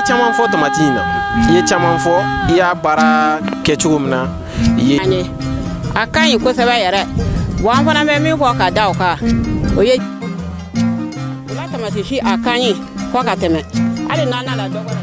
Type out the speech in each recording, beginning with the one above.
caman fɔ tamati in na i ye caman fɔ i y'a baara kɛ cogo min na i ye a ka ɲi kosɛbɛ yɛrɛ wa an fana bɛ min fɔ ka da o kan o ye o la tamati si a ka ɲi fo ka tɛmɛ hali n'a nala dɔgɔ la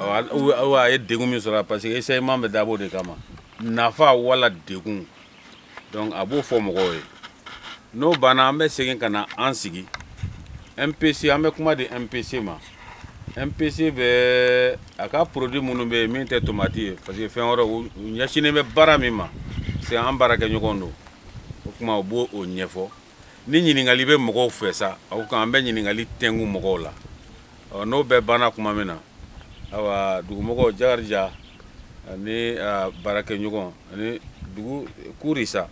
a ye degun min sɔrɔ parce que essayement bɛ dabɔ de kama nafa wala degun donc a b'o fɔ mɔgɔw ye n'o banna an bɛ segin ka na an sigi mpc an bɛ kuma di mpc ma mpc bɛ a ka produit minnu bɛ yen min tɛ tomati ye parce que fɛn wɛrɛ u ɲɛsinnen bɛ baara min ma c'est an baarakɛɲɔgɔn don o kuma u b'o o ɲɛfɔ ni ɲininkali bɛ mɔgɔw fɛ sa aw kan an bɛ ɲininkali tɛngu mɔgɔw la n'o bɛɛ banna kuma min na awa dugumɔgɔw jakarija ani baarakɛɲɔgɔn ani dugu kuri sa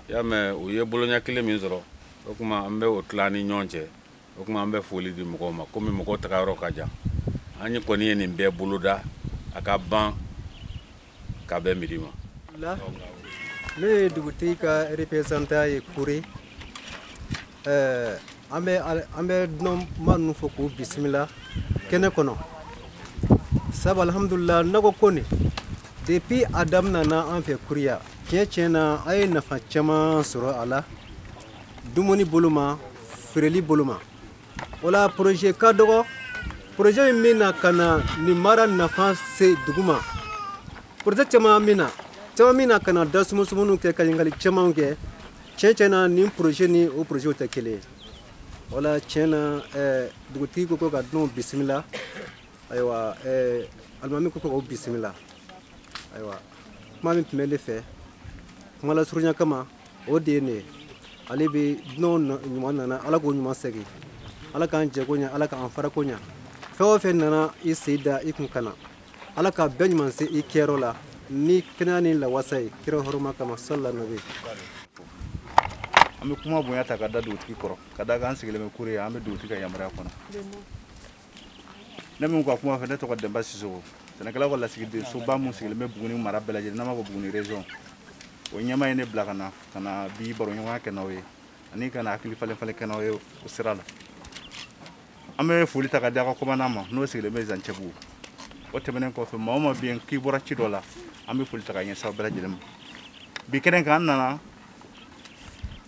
i y'a mɛn u ye boloɲɛ kelen min sɔrɔ o kuma an bɛ o tila ni ɲɔgɔn cɛ o kuma an bɛ foli di mɔgɔw ma komi mɔgɔw tagayɔrɔ ka jan an ye kɔni ye nin bɛɛ boloda a ka ban ka bɛn midi ma ne ye dugutigi ka représentant ye kure eh, an bɛ an bɛ dunanma ninnu fo k'u bisimila kɛnɛ kɔnɔ sabu alhamdulila nɔgɔ ko nin depuis a daminana an fɛ kure yan tiɲɛ tiɲɛ na an ye nafa caman sɔrɔ a la dumuni bolo ma feereli bolo ma o la poroze ka dɔgɔ poroze min bɛ na ka na nin mara nafa se dugu ma poroze caman bɛ na caman bɛ na ka na da sumusumuniw kɛ ka ɲininkali camanw kɛ tiɲɛ tiɲɛ na nin poroze ni o porozew tɛ kelen ye o la tiɲɛ na eh, dugutigi ko ko ka dunanw bisimila ayiwa eh, alimami ko ko k'o bisimila ayiwa kuma min tun bɛ ne fɛ kuma lasurunya kama o de ye nin ye ala bɛ dunanw ɲuman nana ala k'u ɲuman segin ala k'an jɛko ɲɛ ala k'an farako ɲɛ fɛn o fɛn nana i sen da i kun kana ala ka bɛɛ ɲuman se i kɛyɔrɔ la ni kɛnɛya ni lawasa ye kira hɔrɔma kama salila nabi an bɛ kuma bonya ta ka da dugutigi kɔrɔ ka da kan an sigilen bɛ kure yan an bɛ dugutigi ka yamaruya kɔnɔ ne min ka kuma fɛ ne tɔgɔ denba sisɔkɔ sɛnɛkɛlaw ka lasigidensoba min sigilen bɛ buguni mara bɛɛ lajɛlen n'an b'a fɔ buguni région o ɲɛmaa ye ne bila ka na ka na bi baroɲɔgɔnya kɛ n'aw ye ani ka na hakili falen falen kɛ n'aw ye o sira la an bɛ foli ta ka di aw ka kɔmandan ma n'o sigilen bɛ zancɛbugu o tɛmɛnen kɔfɛ maa o maa bɛ yen k'i bɔra ci dɔ la an bɛ foli ta ka ɲɛsin aw bɛɛ lajɛlen ma bi kɛnɛ kan an nana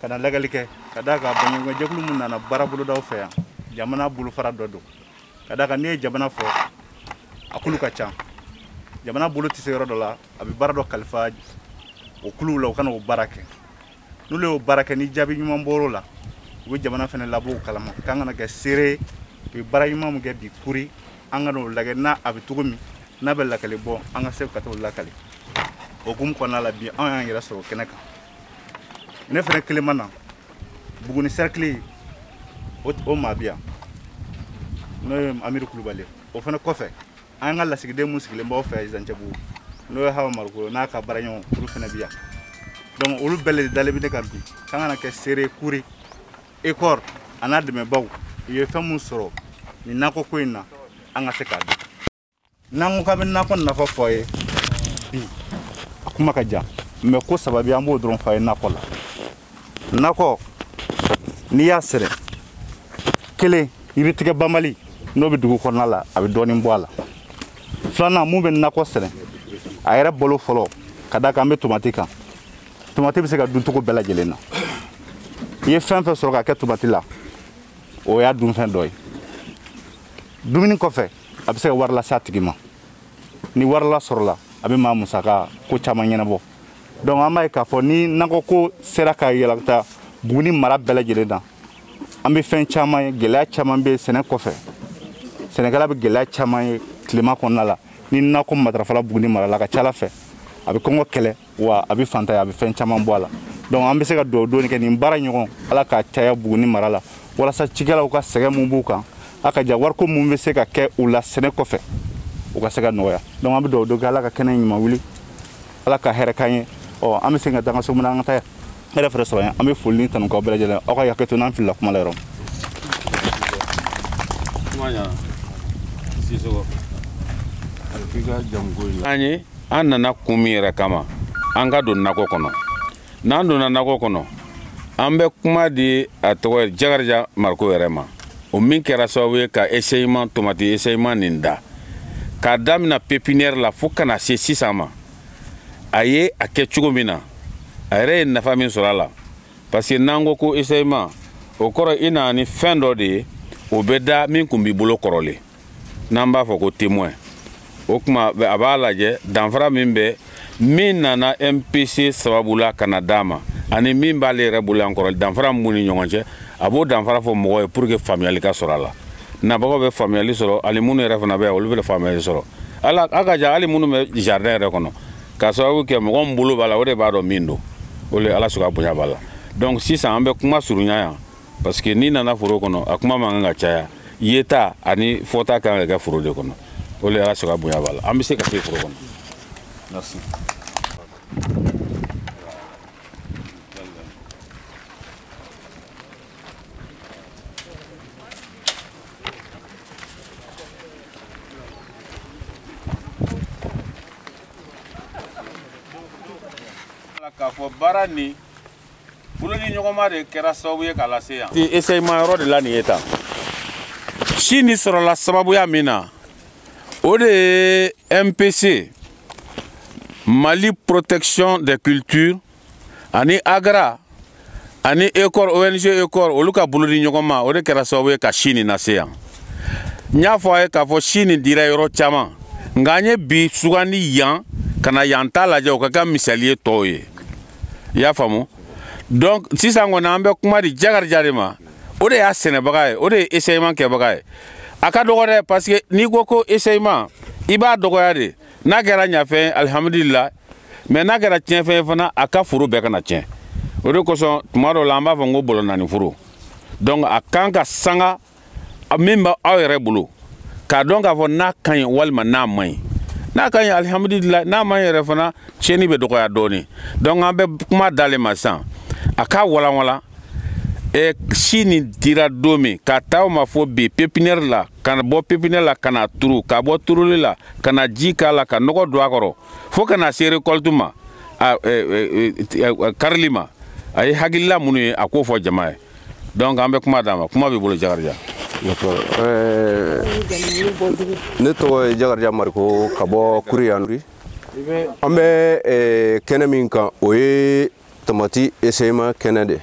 ka na lagɛli kɛ ka da kan baɲumankɛ jɛkulu mun nana baara bolodaw fɛ yan jamana bolofara dɔ don ka da kan n'i ye jamana fɔ a kulu ka ca jamana bolo tɛ se yɔrɔ dɔ la a bɛ baara dɔ kalifa o kuluw la u ka na o baara kɛ n'olu y'o baara kɛ ni jaabi ɲuman bɔr'o la u bɛ jamana fana labɔ o kalama k'an ka na kɛ seere u ye baara ɲuman min kɛ bi kuri an ka n'o lajɛ n'a a bɛ cogo min n'a bɛ lakali bɔ an ka se ka t'o lakali o hukumu kɔnɔna la bi anw y'an yɛrɛ sɔrɔ kɛnɛ kan ne fɛnɛ kelen ma na buguni sɛrikili o maa bi yan n'o ye amiri kulubali o fɛnɛ kɔfɛ an ka lasigiden mun sigilen b'aw fɛ zancɛbugu n'o ye hawa mariko n'a ka baaraɲɔgɔn olu fɛnɛ bi yan donc olu bɛɛ le dalen bɛ ne kan bi k'an ka na kɛ seere kuri ekɔr a n'a dɛmɛbaw u ye fɛn mun sɔrɔ nin nakɔko in na an ka se k'a dɔn n'an ko k'an bɛ nakɔ nafa fɔ a ye bi a kuma ka jan mais ko saba bi an b'o dɔrɔn fɔ a ye nakɔ la nakɔ n'i y'a sɛnɛ kelen yiritigɛ banbali n'o bɛ dugu kɔnɔna la a bɛ dɔɔnin bɔ a la filanan mun bɛ nakɔ sɛnɛ a yɛrɛ balo fɔlɔ ka da kan an bɛ tomati kan tomati bɛ se ka dun cogo bɛɛ lajɛlen na i ye fɛn fɛn sɔrɔ ka kɛ tomati la o y'a dunfɛn dɔ ye dumuni kɔfɛ a bɛ se ka wari lase a tigi ma ni wari lasɔrɔla a bɛ maa musaka ko caman ɲɛnabɔ donc an b'a ye k'a fɔ ni nakɔ ko sera ka yɛlɛmata buguni mara bɛɛ lajɛlen na an bɛ fɛn caman ye gɛlɛya caman bɛ sɛnɛ kɔfɛ sɛnɛkɛla bɛ gɛlɛya caman ye tilema kɔnɔna la ni nakɔ matarafala buguni mara la ka ca ala fɛ a bɛ kɔngɔ kɛlɛ wa a bɛ faantanya a bɛ fɛn caman bɔ a la donc an bɛ se ka dugawu don kɛ nin baara ɲɔgɔn ala k'a caya buguni mara la walasa cikɛlaw ka sɛgɛn mun b'u kan a ka ja wariko mun bɛ se ka kɛ u la sɛnɛ kɔfɛ u ka se ka nɔgɔya donc an bɛ dugawu don kɛ ala ka kɛnɛ ɲuman wuli ala ka hɛrɛ k'an ye ɔ an bɛ segin ka taa an ka so mun na an ka taa yan hɛrɛ fɛrɛ sɔrɔ an bɛ foli ni tanu k'aw bɛɛ lajɛlen aw ka hakɛ to n'an filila kuma la yɔrɔ an ye an nana kun min yɛrɛ kama an ka don nakɔ kɔnɔ n'an donna nakɔ kɔnɔ an bɛ kuma di a tɔgɔ jakarija mariko yɛrɛ ma o min kɛra sababu ye ka eseyiman tomati eseyiman nin da k'a damina pepiniyɛri la fo ka na se sisan ma a ye a kɛ cogo min na a yɛrɛ ye nafa min sɔrɔ a la parce que n'an ko ko eseyiman o kɔrɔ i na ni fɛn dɔ de ye o bɛ da min kun b'i bolo kɔrɔlen n'an b'a fɔ ko témoin o kuma a b'a lajɛ danfara min bɛ min nana mpc sababu la ka na d'a ma ani min b'ale yɛrɛ bolo yan kɔrɔlen danfara min b'u ni ɲɔgɔn cɛ a b'o danfara fɔ mɔgɔ ye pour que faamuyali ka sɔrɔ a la nabagaw bɛ faamuyali sɔrɔ ani minnu yɛrɛ fana bɛ yan olu bɛ faamuyali sɔrɔ a la a ka ja hali minnu bɛ jardin yɛrɛ kɔnɔ k'a sababu kɛ mɔgɔ min bolo b'a la o de b'a dɔn min don o de ala sɔnna bonya b'a la donc sisan an bɛ kuma surunya yan parce que n'i nana foro kɔnɔ a kuma man kan ka caya yeta ani fɔta kan ka kɛ foro de kɔnɔ o de ala sɔnna bonya b'a la an bɛ se ka se foro kɔnɔ merci k'a fɔ baara nin bolo di ɲɔgɔn ma de kɛra sababu ye k'a lase yan essayement yɔrɔ de la nin ye tan si nin sɔrɔla sababuya min na o de ye mpc mali protection des cultures ani agra ani eucord ong eucord olu ka bolo di ɲɔgɔn ma o de kɛra sababu ye ka si nin lase yan n y'a fɔ a ye k'a fɔ si nin dira yɔrɔ caman nka an ye bi sugandi yan ka na yan ta lajɛ o ka kɛ misali ye tɔw ye i y'a faamu donc sisan kɔni an bɛ kuma di jakarija de ma o de y'a sɛnɛbaga ye o de ye essayement kɛbaga ye a ka dɔgɔ dɛ parce que n'i ko ko essayement i b'a dɔgɔya de n'a kɛra ɲafɛn alihamudulila mais n'a kɛra tiɲɛfɛn ye fana a ka foro bɛɛ kana tiɲɛ o de kosɔn tuma dɔw la an b'a fɔ ko bɔlɔ naani foro donc a kan ka sanga min bɛ aw yɛrɛ bolo k'a dɔn k'a fɔ n'a ka ɲi walima n'a man ɲi n'a ka ɲi alihamudulila n'a man ɲi yɛrɛ fana tiɲɛni bɛ dɔgɔya dɔɔni donc an bɛ kuma d'ale ma sisan a k'a walanwalan e si nin dira don min k'a ta o ma fo bi pépinière la ka bɔ pépinière la ka na turu ka bɔ turuli la ka na ji k'a la ka nɔgɔ don a kɔrɔ fo ka na se récolte ma a karili ma a ye hakilila minnu ye a k'o fɔ jama ye donc an bɛ kuma d'a ma kuma b'i bolo jakarija ne tɔgɔ ye jakarija mariko ka bɔ kuri yanuri an bɛ kɛnɛ min kan o ye tamati essayement kɛnɛ de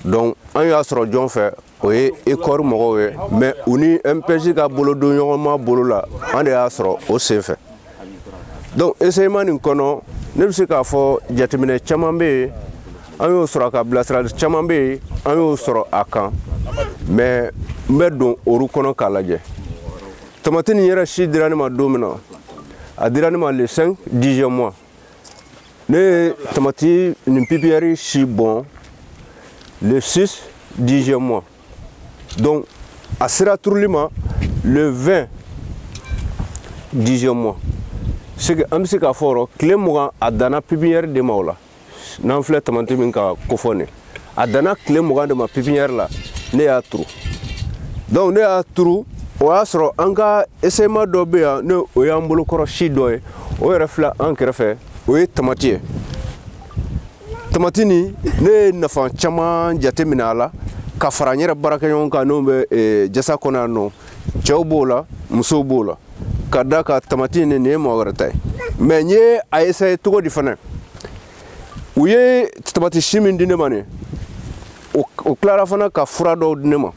donc an y'a sɔrɔ jɔn fɛ o ye eucord mɔgɔw ye mais u ni mpc ka bolodon ɲɔgɔnma bolo la an de y'a sɔrɔ o sen fɛ donc essayement nin kɔnɔ ne bɛ se k'a fɔ jateminɛ caman bɛ yen an y'o sɔrɔ ka bilasirali caman bɛ yen an y'o sɔrɔ a kan mais n bɛ don olu kɔnɔ k'a lajɛ tamati nin yɛrɛ si dira ne ma don min na a dira ne ma le 5 dixième mois ne ye tamati nin pépinière si bɔn le 6 dixième mois donc a sera turuli ma le 20 dixième mois c'est que an bɛ se k'a fɔ yɔrɔ tile mugan a danna pépinière de ma o la n'an filɛ tamati min ka kofɔ nin a danna tile mugan de ma pipiniyɛri la ne y'a turu donc ne y'a turu o y'a sɔrɔ an ka eseyima dɔ bɛ yan ne o y'an bolokɔrɔ si dɔ ye o yɛrɛ filɛ an kɛrɛfɛ o ye tamati ye tamati nin ne ye nafa caman jate minɛ a la ka fara n yɛrɛ baarakɛɲɔgɔn kan n'o bɛ eh, jasa kɔnɔ yan nɔ cɛw b'o la musow b'o la ka d'a kan tamati nin nin ye mɔgɔ wɛrɛ ta ye mais n ye a esaye cogo di fana u ye tamati si min di ne ma nin o tilara fana ka fura dɔw di ne ma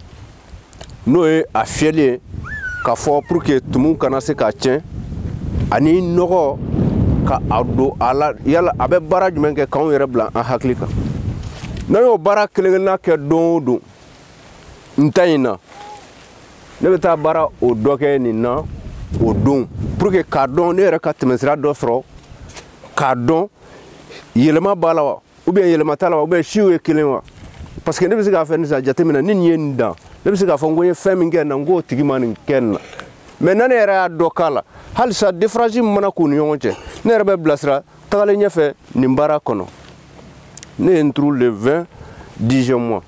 n'o ye a fiyɛli ye k'a fɔ pour que tumu kana se k'a tiɲɛ ani nɔgɔ ka a don a la yala a bɛ baara jumɛn kɛ k'anw yɛrɛ bila an hakili kan n'an y'o baara kelen-kelenna kɛ don o don n ta in na ne bɛ taa baara o dɔ kɛ nin na o don pour que k'a dɔn ne yɛrɛ ka tɛmɛsira dɔ sɔrɔ k'a dɔn yɛlɛma b'a la wa ou bien yɛlɛma t'a la wa ou bien siw ye kelen wa parce que ne bɛ se ka fɛn nin sa jateminɛ ni nin ye nin dan ne bɛ se k'a fɔ n ko n ye fɛn min kɛ nin na n k'o tigi ma nin kɛ nin na mais na ne yɛrɛ y'a dɔ k'a la halisa diferansi min mana k'u ni ɲɔgɔn cɛ ne yɛrɛ bɛ bilasira tagalen ɲɛfɛ nin baara kɔnɔ ne ye nin turu le 20 dixième mois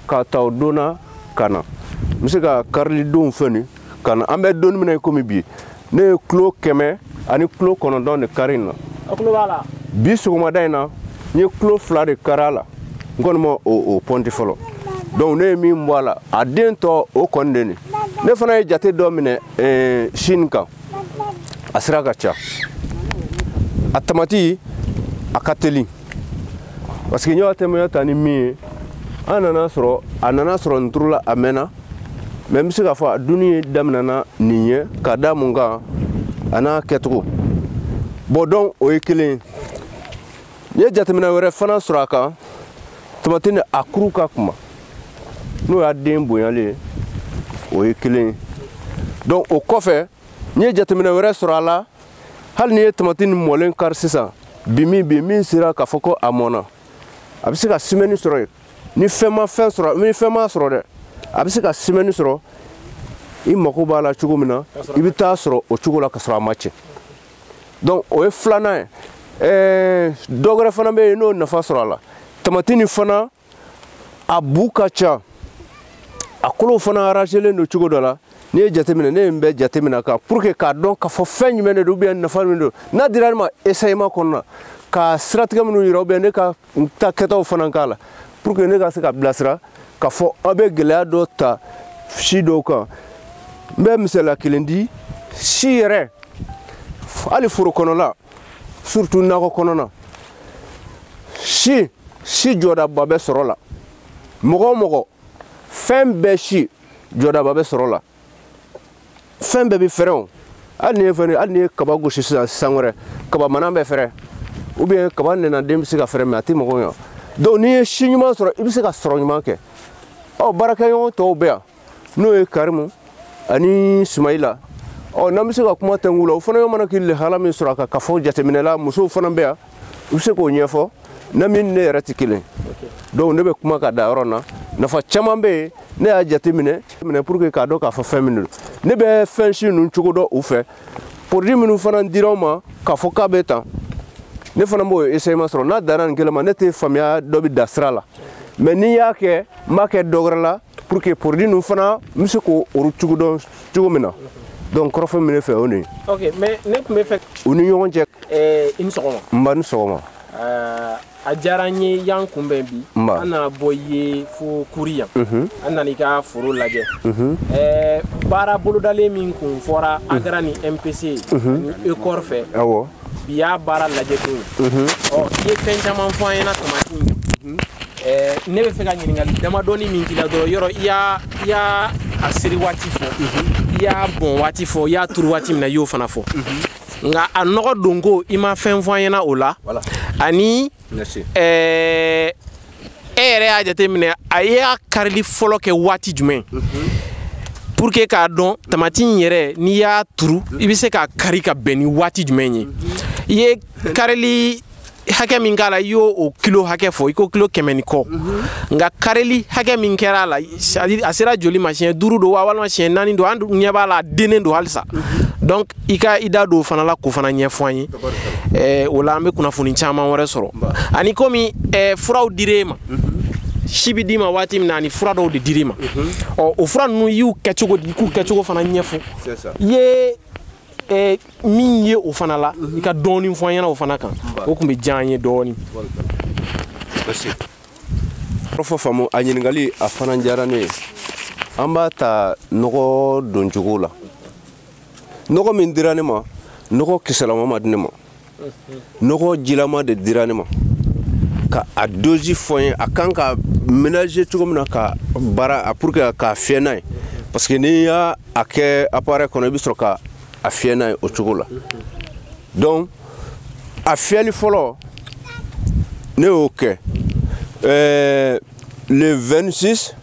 k'a ta o don na ka na n bɛ se ka karilidonw fɛn nin ka na an bɛ donni min na komi bi ne ye kilo kɛmɛ ani kilo kɔnɔntɔn de kari in na bi sɔgɔmada in na n ye kilo fila de kari a la n kɔni ma o pɔnti fɔlɔ donc ne ye min bɔ a la a den tɔ o kɔni de nin ne fana ye jate dɔ minɛ si nin kan a sira ka ca a tamati a ka teli parce que n y'a tɛmɛya ta ni min ye an nana sɔrɔ a nana sɔrɔ nin turula a mɛnna mais n bɛ se k'a fɔ a dunni daminɛna nin ɲɛ ka da mun kan a n'a kɛcogo bon donc o ye kelen ye n ye jateminɛ wɛrɛ fana sɔrɔ a kan tamati nin a kuru ka kunba n'o y'a den bonyalen ye o ye kelen ye donc o kɔfɛ n ye jateminɛ wɛrɛ sɔrɔ a la hali n'i ye tamati nin mɔlen kari sisan bi min bi min sera k'a fɔ ko a mɔna a bɛ se ka simɛni sɔrɔ yen ni fɛn ma fɛn sɔrɔ ni fɛn m'a sɔrɔ dɛ a bɛ se ka simɛni sɔrɔ i mago b'a la cogo min na i bɛ t'a sɔrɔ o cogo la ka sɔrɔ a ma tiɲɛ donc o ye filanan ye ɛɛ dɔ wɛrɛ fana bɛ yen n y'o nafa sɔrɔ a la tamati nin fana a bu ka ca a kolow fana arrangelen don cogo dɔ la n'i ye jateminɛ ne ye nin bɛɛ jateminɛ a kan pour que k'a dɔn k'a fɔ fɛn jumɛn de don ou bien nafa min don n'a dira ne ma esayema kɔnɔna ka siratigɛ minnu yira ou bien ne ka n ta kɛtaw fana k'a la pour que ne ka se ka bilasira k'a fɔ aw bɛ gɛlɛya dɔ ta si dɔw kan n bɛ misaliya kelen di si yɛrɛ hali foro kɔnɔla surtout nakɔ kɔnɔna si si jɔdaba bɛ sɔrɔ la mɔgɔ o mɔgɔ fɛn bɛɛ si jɔdaba bɛ sɔrɔ la fɛn bɛɛ bɛ fɛrɛ o hali n'i ye fɛn hali n'i ye kaba gosi sisan san wɛrɛ kaba mana bɛ fɛrɛ ou bien kaba nɛna den bɛ se ka fɛrɛ mais a tɛ mago ɲa donc n'i ye si ɲuman sɔrɔ i bɛ se ka sɔrɔ ɲuman kɛ ɔ baarakɛɲɔgɔn tɔw bɛ yan n'o ye karimu ani sumayila ɔ n'an bɛ se ka kuma tɛnku la o fana mana k'i lahala min sɔrɔ a kan k'a fɔ jateminɛ la musow fana bɛ yan i bɛ se k'o ɲɛfɔ ne min ne yɛrɛ tɛ kelen donc ne bɛ kuma ka da yɔrɔ na nafa caman bɛ yen ne y'a jateminɛ pour que k'a dɔn k'a fɔ fɛn min don ne bɛ fɛn si ninnu cogo dɔn u fɛ produit minnu fana dira n ma k'a fɔ k'a bɛ tan ne fana b'o essayement sɔrɔ n'a danna nin kelen ma ne tɛ faamuya dɔ bɛ dan sira la mais n'i y'a kɛ n b'a kɛ dɔ wɛrɛ la pour que produit ninnu fana n bɛ se k'o olu cogo dɔn cogo min na donc kɔrɔfɔ min ne fɛ o de ye. ok mais ne tun bɛ fɛ. u ni ɲɔgɔn cɛ. ɛɛ i ni sɔgɔma. n ba i ni sɔgɔma. ɛɛ a diyara n ye i y'an kunbɛn bi. n ba an nana bɔ i ye fo kuri yan. an nana i ka foro lajɛ. ɛɛ baara bolodalen min kun fɔra agara ni mpc ni ekɔri fɛ. awɔ. bi y'a baara lajɛ don ye ɔ i ye fɛn caman fɔ an ɲɛna tamati in kan ne bɛ fɛ ka ɲininkali damadɔni min k'i la dɔrɔn yɔrɔ i y'a i y'a a seri waati fɔ i y'a bɔn waati fɔ i y'a turu waati min na i y'o fana fɔ nka a nɔgɔ donko i ma fɛn fɔ an ɲɛna o la ani ɛɛ e yɛrɛ y'a jateminɛ a y'a karili fɔlɔ kɛ waati jumɛn pour que k'a dɔn tamati in yɛrɛ n'i y'a turu i bɛ se k'a kari ka bɛn ni waati jumɛn ye i ye karili hakɛ min k'a la i y'o o kilo hakɛ fɔ i ko kilo kɛmɛ ni kɔ nka karili hakɛ min kɛra a la a sera joli ma siɲɛ duuru don wa walima siɲɛ naani don an ɲɛ b'a la a dennen don halisa donc i ka i da don o fana la k'o fana ɲɛfɔ an ye o la an bɛ kunnafoni caman wɛrɛ sɔrɔ ani komi furaw dir'e ma si bɛ d'i ma waati min na ani fura dɔw de dir'i ma ɔ o fura ninnu i y'u kɛ cogo di i k'u kɛcogo fana ɲɛfɔ i ye min ye o fana la i ka dɔɔnin fɔ an ɲɛna o fana kan o tun bɛ diya an ye dɔɔnin fɔ faamu a ɲininkali a fana diyara ne ye an b'a ta nɔgɔ doncogo la nɔgɔ min dira ne ma nɔgɔ kisɛlama ma di ne ma nɔgɔ jilama de dira ne ma ka a dozi fɔ n ye a kan ka ménager cogo min na ka baara pour que k'a fiyɛ n'a ye parce que n'i y'a kɛ appareil kɔnɔ i bɛ sɔrɔ ka a fiyɛ n'a ye o cogo la donc a fiyɛli fɔlɔ ne y'o kɛ ɛɛ Le 26,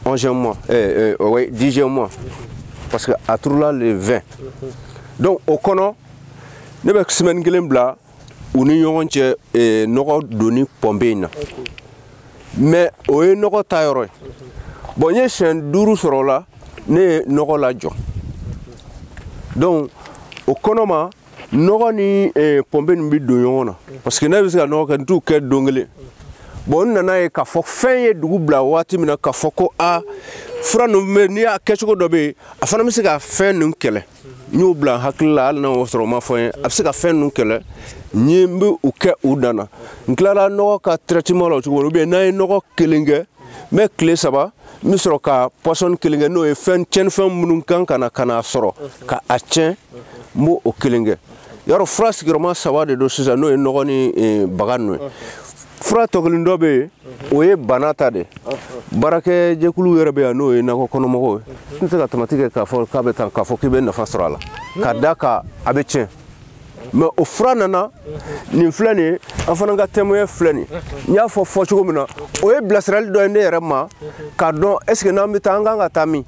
11e mois, euh, euh, oui, 10e mois, parce que a turula, le 20. Donc, o kɔnɔ, ne bɛ semaine kelen bila u ni ɲɔgɔn cɛ eh, nɔgɔ donni pɔnpe in na mais o ye nɔgɔ ta yɔrɔ ye bon n ye siɲɛ duuru sɔrɔ o la ne ye nɔgɔ lajɔ donc o kɔnɔ ma nɔgɔ ni eh, pɔnpe nin bɛ don ɲɔgɔn na parce que ne bɛ se ka nɔgɔ kɛ n t'u kɛ don kelen bon n nana ye k'a fɔ fɛn ye dugu bila waati min na k'a fɔ ko a fura ninnu bɛ n'i y'a kɛcogo dɔ bɛ yen a fana bɛ se ka fɛn ninnu kɛlɛ n y'o bila n hakili la hali n'a y'o sɔrɔ o ma fɔ n ye a bɛ se ka fɛn ninnu kɛlɛ n ye n bɛ u kɛ u dan na n tilara nɔgɔ ka traitement la o cogo la ou bien n'an ye nɔgɔ kelen kɛ n bɛ tile saba n bɛ sɔrɔ ka pɔsɔni kelen kɛ n'o ye fɛn tiɲɛnifɛn minnu kan ka na ka n'a sɔrɔ ka a tiɲɛ n b'o kelen kɛ yɔrɔ fura sigiyɔrɔma saba de don sisan n'o ye nɔgɔ ni eh, baga ninnu ye fura tɔ kelen dɔ bɛ yen o ye bana ta de baarakɛjɛkulu yɛrɛ bɛ yan n'o ye nakɔ kɔnɔmɔgɔw ye n tɛ se ka tamati kɛ k'a fɔ k'a bɛ tan k'a fɔ k'i bɛ nafa sɔrɔ a la ka da kan a bɛ tiɲɛ mais o fura nana nin filɛ nin ye an fana ka témoin filɛ nin n y'a fɔ cogo min na o ye bilasirali dɔ ye ne yɛrɛ ma k'a dɔn est-ce que n'an bɛ taa an kan ka taa min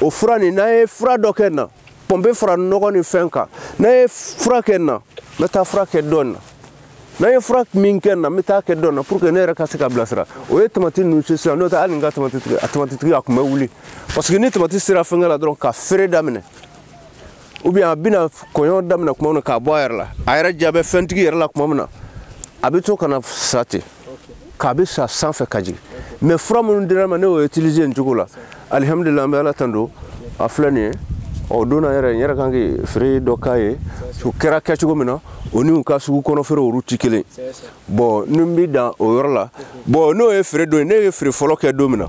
o fura nin n'an ye fura dɔ kɛ na pɔnpe fara nɔgɔ ni fɛn kan n'an ye fura kɛ na n bɛ taa fura kɛ dɔ na n'an ye fura min kɛ na n bɛ taa kɛ dɔ na pour que ne yɛrɛ ka se ka bilasira o ye tamati ninnu se sisan n'o tɛ hali n ka tamatitigi a tamatitigi a tun bɛ wuli parce que ni tamati sera fɛnkɛ la dɔrɔn ka feere daminɛ ou bien a bɛna kɔgɔ daminɛ tuma min na k'a bɔ a yɛrɛ la a yɛrɛ ja bɛ fɛntigi yɛrɛ la tuma min na a bɛ to ka na sa ten k'a bɛ sa sanfɛ ka jigin mais fura minnu dira ma ne y'o utiliser nin cogo la alihamudulila an bɛ ala tando a filɛ nin ye o donna yɛrɛ n yɛrɛ kan ka feere dɔ k'a ye o kɛra kɛcogo min na o ni u ka sugu kɔnɔ feere olu tɛ kelen bon ni n bi dan o yɔrɔ la bon n'o ye feere don ye ne ye feere fɔlɔ kɛ don min na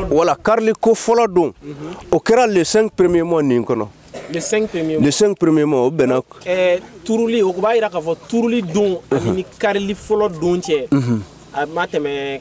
voilà kariliko fɔlɔ don o kɛra le 5 premier mois nin kɔnɔ le 5 premier mois le 5 premier mois o bɛnna eh, turuli o b'a yira k'a fɔ turuli don ani ni karili fɔlɔ don cɛ a ma tɛmɛ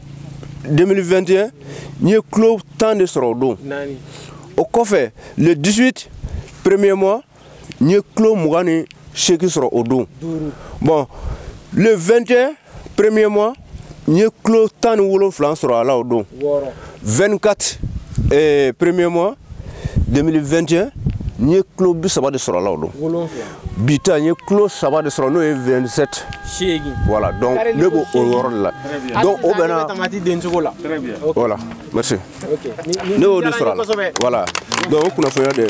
2021 n ye kilo tan de sɔrɔ o don o kɔfɛ le 18 premier mois n ye kilo mugan ni seegin sɔrɔ o don bon le 21 premier mois n ye kilo tan ni wolonfila sɔrɔ a la o don 24 eh, premier mois 2021 n ye kilo bi saba de sɔrɔ a la o don bi ta n ye kilo saba de sɔrɔ n'o ye 27 voilà donc ne b'o o yɔrɔ de la donc o bɛnna tamati den cogo la voilà merci ne y'o de sɔrɔ a la voilà donc o kunnafoniya de ye